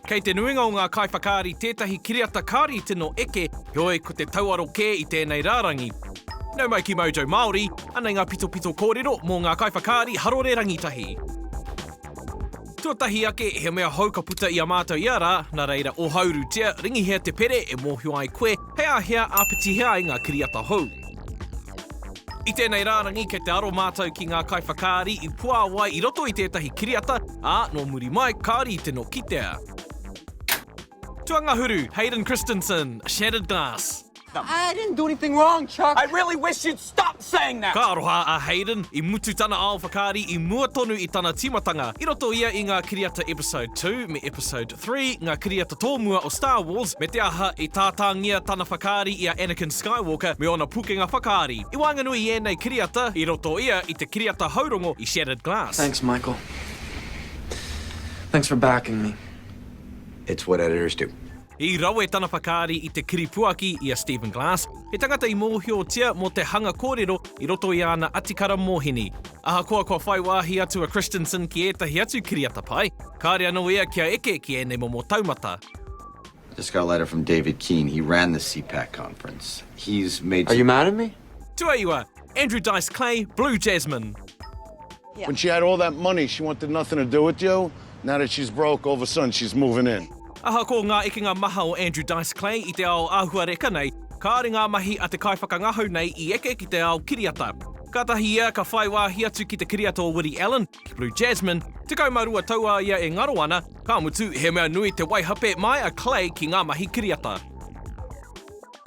Kei te nuinga o ngā kaiwhakaari tētahi kiriata kāri tino eke, heoi ko te tauaro kē i tēnei rārangi. Nau mai ki Mojo Māori, anei ngā pitopito kōrero mō ngā kaiwhakaari harore rangitahi. Tuatahi ake, he mea hou ka puta i a mātou ia rā, nā reira, ohauru tia, ringihia te pere e mōhio ai koe, He a hea, āpiti hea ai ngā kiriata hou? I tēnei rārangi kei te aro mātou ki ngā kaiwhakaari i puāwai i roto i tētahi kiriata, ā, nō muri mai kāore i te nokitea. Tuangahuru, Hayden Christensen, Shattered Glass. Hayden, do anything wrong, Chuck. I really wish you'd stop saying that. Ka aroha a Hayden, i mutu tana ao whakaari i mua tonu i tana tīmatanga, i roto ia i ngā kiriata Episode Two me Episode Three, ngā kiriata tōmua o Star Wars, me te aha, i tātāngia tana whakaari i a Anakin Skywalker me ōna pukenga whakaari. I waenganui i ēnei kiriata, i roto ia i te kiriata haurongo i Shattered Glass. Thanks, Michael. Thanks for backing me. It's what editors do. I rawe tana whakaari i te kiripuaki i a Stephen Glass, he tangata i mōhiotia mō te hanga kōrero i roto i āna atikara mōhini. Ahakoa kua whai wāhi atu a Christensen ki ētahi atu kiriata pai, kāre anō ia kia eke ki ēnei momo taumata. I just got a letter from David Keane, he ran the CPAC conference. He's made some. Are you mad at me? Tuaiwa, Andrew Dice Clay, Blue Jasmine. When she had all that money she wanted nothing to do with you, now that she's broke all of a sudden she's moving in. Ahakoa ngā ekenga maha o Andrew Dice Clay i te ao āhuareka nei, kāore ngā mahi a te kaiwhakangahau nei i eke ki te ao kiriata. Kātahi ia ka whai wāhi atu ki te kiriata o Woody Allen, ki Blue Jasmine, 12 tau a ia e ngaro ana, ka mutu, he mea nui te waihape mai a Clay ki ngā mahi kiriata.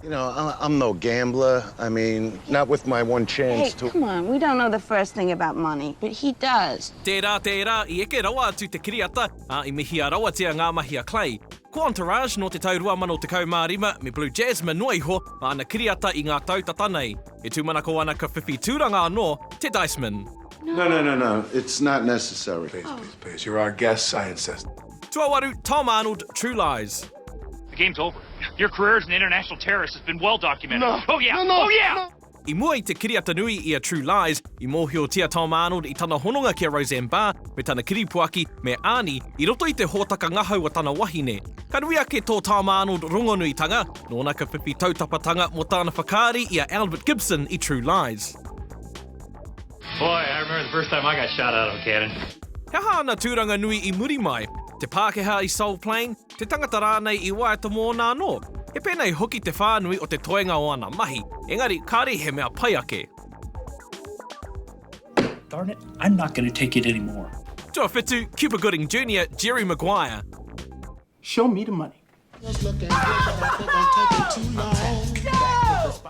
You know, I'm no gambler, I mean, not with my one chance to. Hey, come on, we don't know the first thing about money, but he does. Tērā, tērā, i eke rawa atu te kiriata, ā, i mihia rawatia ngā mahi a Clay. Ko Entourage nō te tau 2015 me Blue Jasmine noa iho mā ana kiriata i ngā tau tata nei. E tūmanako ana ka whiwhi tūranga anō te Diceman. No, no, no, no, it's not necessary. Please, please, please, you're our guest scientist. Tuawaru, Tom Arnold, True Lies. Game's over. Your career as an international terrorist has been well documented. No. Oh yeah. No, no, oh yeah. No. I mua i te kiriata nui i a True Lies, i mōhiotia Tom Arnold i tana hononga ki a Roseanne Barr me tana kiripuaki, me Arnie, i roto i te hōtaka ngahau a tana wahine. Ka nui ake tō Tom Arnold rongonuitanga, nōna ka pipi tautapatanga mō tāna whakaari i a Albert Gibson i True Lies. Boy, I remember the first time I got shot out of a cannon. He aha ana tūranga nui i muri mai? Te Pākehā i Soul Plane? te tangata rānei i waiata mōna anō. He pēnei hoki te whānui o te toenga o ana mahi, engari kāre i he mea pai ake. Darn it, I'm not going to take it anymore. Tuawhitu, Cuba Gooding Junior, Jerry Maguire. Show me the money.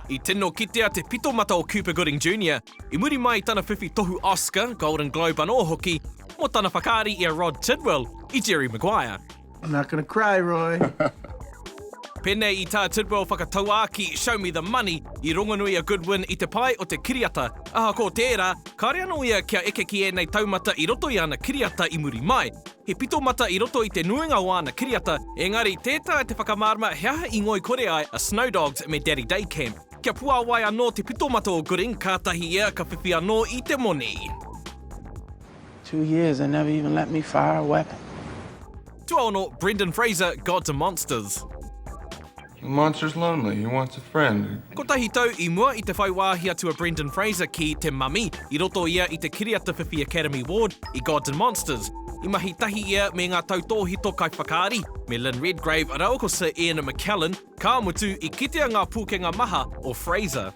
I tino kitea te pitomata o Cuba Gooding Junior. I muri mai i tana whiwhi tohu Oscar, Golden Globe anō hoki, mō tana whakaari i a Rod Tidwell i Jerry Maguire. I'm not gonna cry, Roy. Pēnei i tā Tidwell whakatauākī Show me the money i rongonui a Goodwin i te pae o te kiriata. Ahakoa tērā, kāore anō ia kia eke ki ēnei taumata i roto i ana kiriata i muri mai. He pito mata i roto i te nuinga o āna kiriata, engari tē taea te whakamārama he aha i ngoikore ai a Snow Dogs me Daddy Day Camp. Kia puāwai anō te pitomata o Gooding, kātahi ia ka whiwhi anō i te moni. Two years they never even let me fire a weapon. Tuaono, Brendan Fraser, Gods and Monsters. The monster's lonely, he wants a friend. Kotahi tau i mua i te whai wāhi atu a Brendan Fraser ki te Mummy, i roto ia i te kiriata whiwhi Academy Award i Gods and Monsters. I mahi tahi ia me ngā tautōhito kaiwhakaari, me Lynn Redgrave rāua ko Sir Ian McKellen, Ka mutu, i kitea ngā pūkenga maha o Fraser.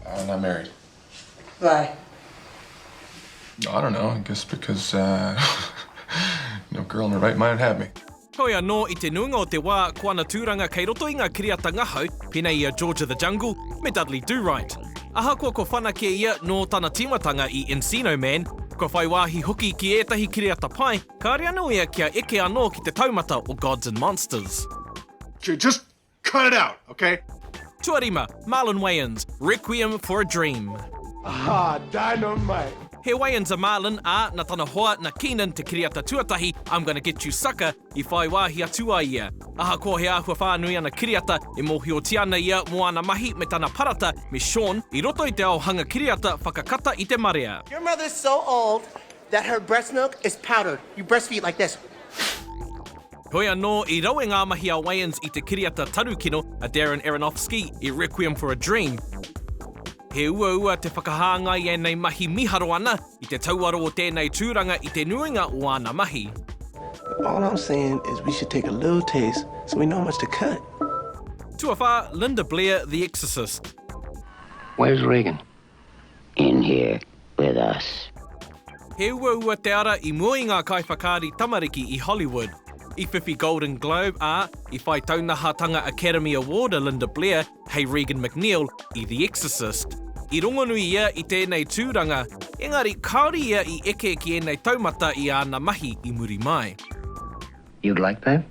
Why not married? Why? I don't know, I guess because no girl in her right mind would have me. Hoi anō, i te nuinga o te wā, ko ana tūranga kei roto i ngā kiriata ngahau, pēnei i a George of the Jungle me Dudley Do-Right. Ahakoa kua whanake ia nō tana tīmatanga i Encino Man, kua whai wāhi hoki ki ētahi kiriata pai, Kāre anō ia kia eke anō ki te taumata o Gods and Monsters. Okay, just cut it out, okay? Tuarima, Marlon Wayans, Requiem for a Dream. Ahā, dynamite! He Wayans a Marlon, ā, na tana hoa, na Keenan te kiriata tuatahi, I'm Gonna Get You Sucker, i whai wāhi atu ai ia. Ahakoa he āhua whānui ana kiriata, e mōhiotia ana ia mō ana mahi me tana parata me Shawn i roto i te ao hanga kiriata whakakata i te marea. Your mother's so old. That her breast milk is powdered. You breastfeed like this. Heoi anō, i rawe ngā mahi a Wayans i te kiriata taru kino a Darren Aronofsky i Requiem for a Dream. He uaua te whakahāngai i ēnei mahi miharo ana i te tauaro o tēnei tūranga i te nuinga o āna mahi. All I'm saying is we should take a little taste so we know how much to cut. Tuawhā, Linda Blair, The Exorcist. Where's Regan? in here with us. He uaua te ara i mua i ngā kaiwhakaari tamariki i Hollywood. I whiwhi Golden Globe, ā, i whai taunahatanga Academy Award a Linda Blair hei Regan MacNeil i The Exorcist. I rongonui ia i tēnei tūranga, engari kāore ia i eke ki ēnei taumata i āna mahi i muri mai. You'd like that?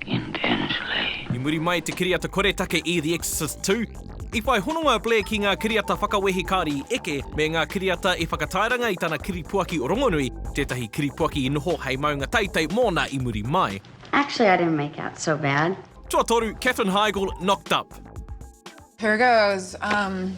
I muri mai i te kiriata koretake i The Exorcist Two, i whai hononga a Blair ki ngā kiriata whakawehi kāri eke me ngā kiriata i whakatairanga i tana kiripuaki o rongonui, tētahi kiripuaki i noho hei maunga teitei mōna i muri mai. Actually, I didn't make out so bad. Tuatoru, Katherine Heigl, Knocked Up. Here goes, um.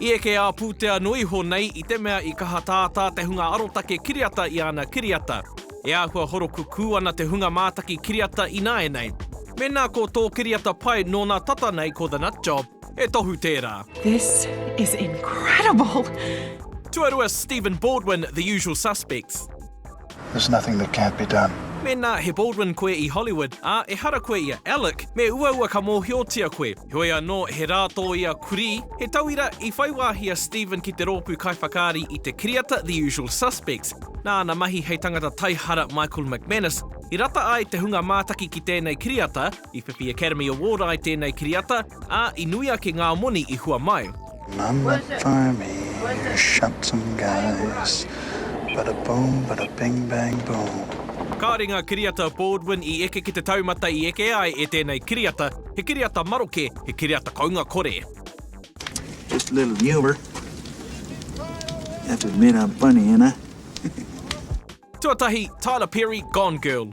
I eke ā pūtea noa iho nei i te mea i kaha tātā te hunga arotake kiriata i ana kiriata. E āhua horokukū ana te hunga mātaki kiriata ināianei. Mēnā ko tō kiriata pai nōna tata nei ko The Nut Job, he tohu tērā. This is incredible! Tuarua, Stephen Baldwin, The Usual Suspects. There's nothing that can't be done. Mēnā he Baldwin koe i Hollywood, ā, ehara koe ia Alec, me uaua ka mōhiotia koe. Heoi anō, he rā tō ia kurī. He tauira, i whai wāhi a Stephen ki te rōpū kaiwhakaari i te kiriata The Usual Suspects. Nā ana mahi hei tangata taihara Michael McManus i rata ai te hunga mātaki ki tēnei kiriata, i whiwhi Academy Award ai tēnei kiriata, ā, i nui ake ngā moni i hua mai. None that fire me, shot some guys, bada boom, bada bing bang boom. Kāore ngā kiriata a Baldwin i eke ki te taumata i eke ai e tēnei kiriata, he kiriata maroke, he kiriata kounga kore. Just a little humour. Have to admit I'm funny, ain't I? Tuatahi, Tyler Perry, Gone Girl.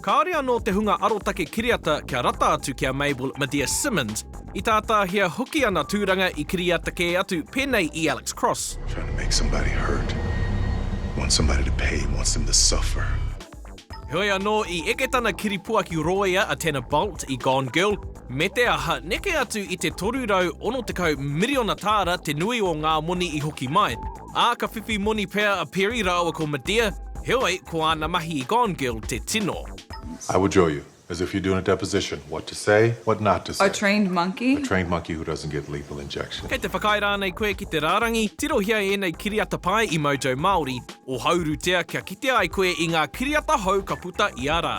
Kāore anō te hunga arotake kiriata kia rata atu ki a Mabel Medea Simmons, i tātāhia hoki ana tūranga i kiriata kē atu pēnei i Alex Cross. Trying to make somebody hurt, wants somebody to pay, wants them to suffer. Heoi anō, i eke tana kiripuaki rōia a Tanner Bolt i Gone Girl, me te aha, neke atu i te 360 miriona tāra te nui o ngā moni i hoki mai. Ā, ka whiwhi moni pea a Perry rāua ko Medea, heoi, ko āna mahi i Gone Girl te tino. I will drill you, as if you're doing a deposition, what to say, what not to say. A trained monkey? A trained monkey who doesn't get lethal injection. Kei te whakaae rānei koe ki te rārangi? Tirohia ēnei kiriata pai i Mojo Māori, ohaurutia kia kitea ai koe i ngā kiriata hou ka puta ia rā.